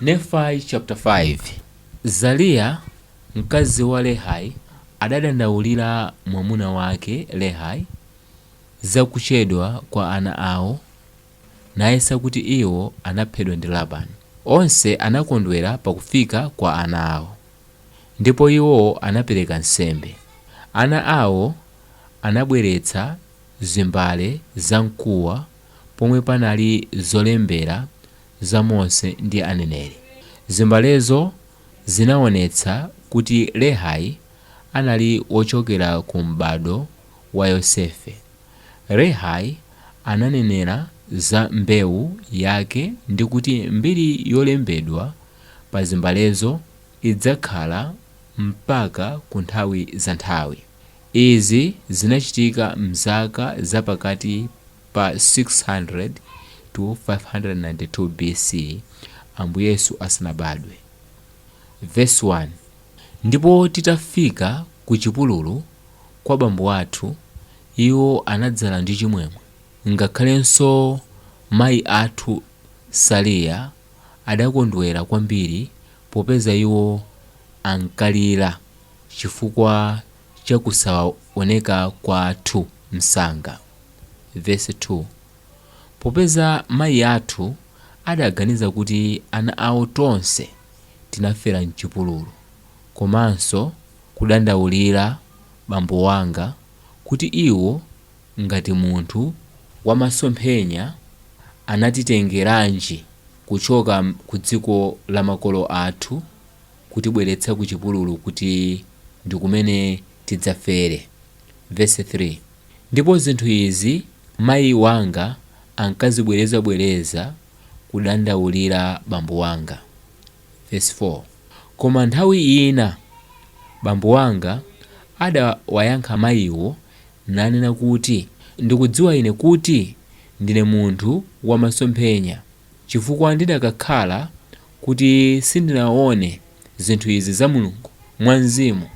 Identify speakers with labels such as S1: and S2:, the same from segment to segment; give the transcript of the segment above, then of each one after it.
S1: Nefai caputa 5 Saliya mkazi wa Lehai adadandaulira mwamuna wake Lehai za kuchedwa kwa ana awo, nayesa kuti iwo anaphedwa ndi Labani. Onse anakondwera pa kufika kwa ana awo, ndipo iwo anapereka nsembe. Ana awo anabweretsa zimbale zamkuwa pomwe panali zolembera za Mose ndi Aneneri. Zimbalezo zinaonetsa kuti Lehai anali wochokera ku m'bado wa Yosefe. Lehai ananenera za mbewu yake ndi kuti mbiri yolembedwa pa zimbalezo idzakhala mpaka ku nthawi za nthawi. Izi zinachitika m'zaka za pakati Pa 600-592 BC, Ambuye Yesu asanabadwe. Vesi 1. Ndipo titafika ku chipululu kwa bambo athu, iwo anadzala ndi chimwemwe, ngakhalenso mayi athu Saliya adakondwera kwambiri popeza iwo ankalira chifukwa cha kusaoneka kwathu msanga. vesi 2 Popeza mayi athu adaganiza kuti ana awo tonse tinafera m'chipululu, komanso kudandaulira bambo wanga kuti iwo ngati munthu wa masomphenya anatitengeranji kuchoka ku dziko la makolo athu kutibweretsa ku chipululu kuti ndi kumene tidzafere, vesi 3. Ndipo zinthu izi mayi wanga ankazibwerezabwereza kudandaulira bambo wanga. Vesi 4, Koma nthawi ina bambo wanga adawayankha mayiwo nanena kuti, Ndikudziwa ine kuti ndine munthu wa masomphenya, chifukwa ndidakakhala kuti sindinaone zinthu izi za Mulungu mwa mzimu,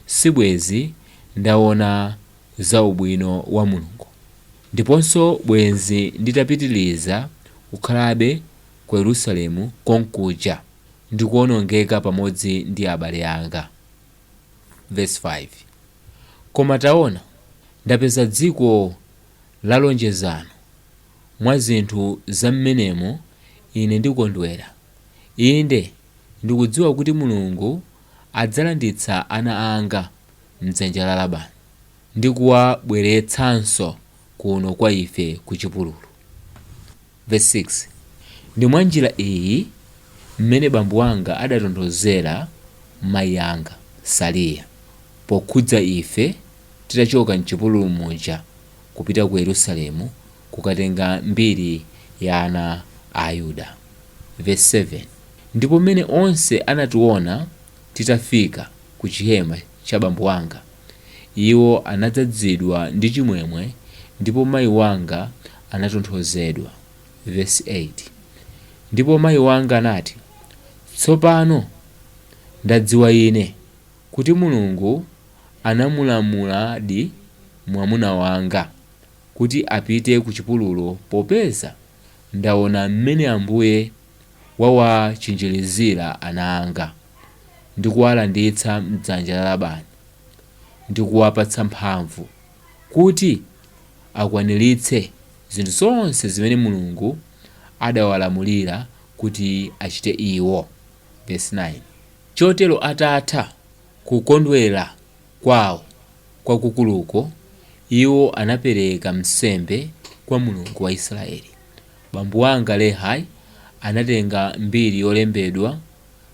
S1: sibwezi ndaona za ubwino wa Mulungu, ndiponso bwenzi nditapitiriza kukhalabe ku Yerusalemu konkuja, ndi kuonongeka pamodzi ndi abale anga. Vesi 5, Koma taona, ndapeza dziko la lonjezano. Mwa zinthu za mmenemo, ine ndikondwera, inde, ndikudziwa kuti Mulungu adzalanditsa ana anga m'dzanja la Labani, ndi kuwabweretsanso kuno kwa ife ku chipululu. Vesi 6, Ndi mwa njira iyi mmene bambo wanga adatonthozera mayi anga, Sariya, pokhudza ife titachoka m'chipululu muja kupita ku Yerusalemu kukatenga mbiri ya ana a Ayuda. Vesi 7, Ndipo m'mene onse anationa titafika ku chihema cha bambo wanga, iwo anadzadzidwa ndi chimwemwe, ndipo mayi wanga anatonthozedwa. Vesi 8, Ndipo mayi wanga anati, Tsopano ndadziwa ine. kuti Mulungu anamulamuladi mwamuna wanga kuti apite ku chipululu popeza ndaona m'mene Ambuye wawachinjirizira ana anga ndi kuwalanditsa m'dzanja la Labani ndi kuwapatsa mphamvu kuti akwaniritse zinthu zonse zimene Mulungu adawalamulira kuti achite iwo. Vesi 9, Chotero atatha kukondwera kwawo kwakukuluko, iwo anapereka nsembe kwa Mulungu wa Israeli. Bambo wanga, Lehi, anatenga mbiri yolembedwa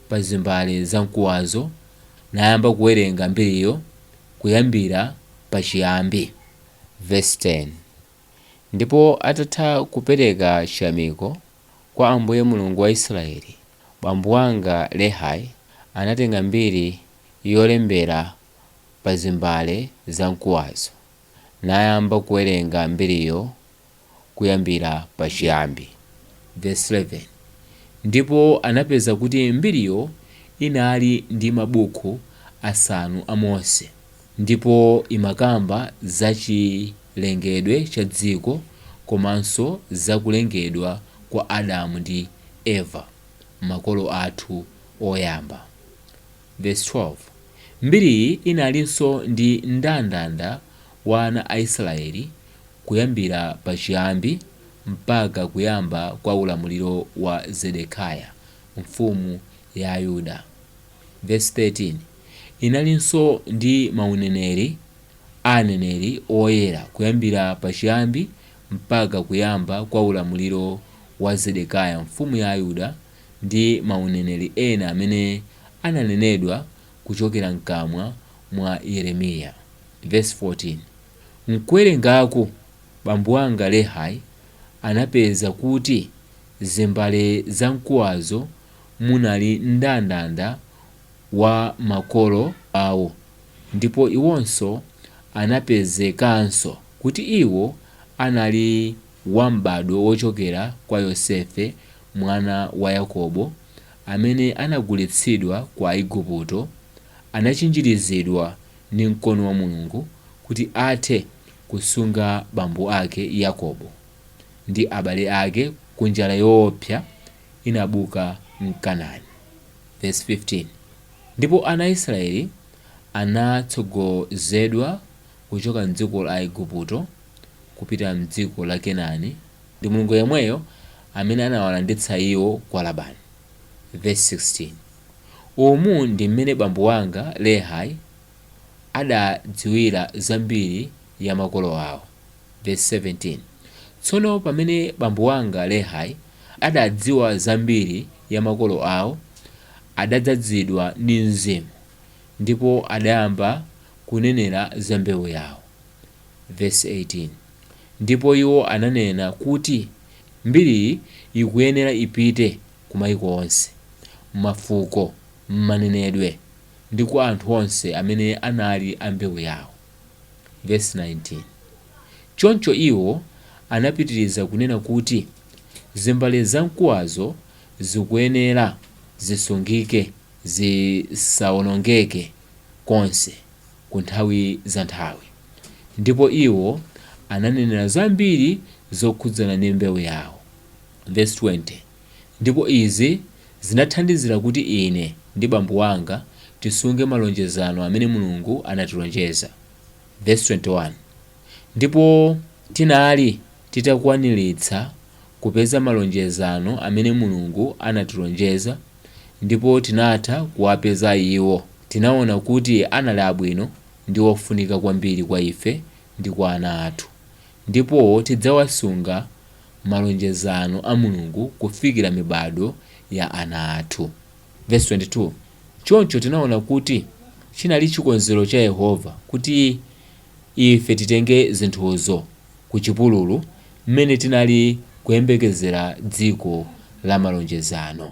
S1: pa zimbale za mkuwazo nayamba kuwerenga mbiriyo kuyambira pachiyambi. Vesi 10, Ndipo atatha kupereka chiyamiko. kwa Ambuye Mulungu wa Israeli, bambo wanga Lehi anatenga mbiri yolembera pa zimbale za mkuwazo nayamba kuwerenga mbiriyo kuyambira pa chiyambi. Vesi 11, Ndipo anapeza kuti mbiriyo inali ndi mabuku asanu a Mose. Ndipo imakamba za chilengedwe cha dziko komanso za kulengedwa kwa Adamu ndi Eva, makolo athu oyamba. Vesi 12, Mbiriyi inalinso ndi mndandanda wa ana a Israeli kuyambira pa chiyambi mpaka kuyamba kwa ulamuliro wa Zedekiah, mfumu ya Ayuda. Vesi 13, Inalinso ndi mauneneri a aneneri oyera kuyambira pachiyambi mpaka kuyamba kwa ulamuliro wa Zedekiya mfumu ya Ayuda ndi mauneneri ena amene ananenedwa kuchokera mkamwa mwa Yeremiya. Vesi 14, Mkuwerengaku, bambo wanga Lehi anapeza kuti zimbale za mkuwazo munali mndandanda wa makolo awo, ndipo iwonso anapezekanso kuti iwo anali wa m'badwo wochokera kwa Yosefe mwana wa Yakobo, amene anagulitsidwa kwa Aigupto, anachinjirizidwa ndi mkono wa Mulungu kuti athe kusunga bambo ake Yakobo ndi abale ake ku njala yoopsa, inabuka m'Kenani. Vesi 15, Ndipo ana a Israeli anatsogozedwa kuchoka m'dziko la Aigupto kupita m'dziko la Kenani, ndi Mulungu yemweyo amene anawalanditsa iwo kwa Labani. Vesi 16, Umu ndi m'mene bambo wanga Lehi adadziwira za mbiri ya makolo awo. Vesi 17, Tsono pamene bambo wanga Lehi adadziwa za mbiri ya makolo awo, adadzadzidwa ndi Mzimu, ndipo adayamba kunenera za mbewu yawo. Vesi 18, Ndipo iwo ananena kuti mbiriyi ikuyenera ipite ku maiko onse, mafuko, manenedwe ndi kwa anthu onse amene anali a mbewu yawo. Vesi 19, Choncho iwo anapitiriza kunena kuti, Zimbale zamkuwazo zikuyenera zisungike, zisawonongeke konse ku nthawi za nthawi. Ndipo iwo ananenera zambiri zokhudzana ndi mbewu yawo. Vesi 20. ndipo izi zinathandizira kuti ine ndi bambo wanga tisunge malonjezano amene Mulungu anatilonjeza, vesi 21, ndipo tinali titakwaniritsa kupeza malonjezano amene Mulungu anatilonjeza ndipo tinatha kuwapeza iwo, tinaona kuti anali abwino ndi ofunika kwambiri kwa ife ndi kwa ana athu, ndipo tidzawasunga. malonjezano a Mulungu kufikira mibadwo ya ana athu. Vesi 22, Choncho tinaona kuti chinali chikonzero cha Yehova kuti ife titenge zinthuzo ku chipululu mmene tinali kuyembekezera dziko la malonjezano.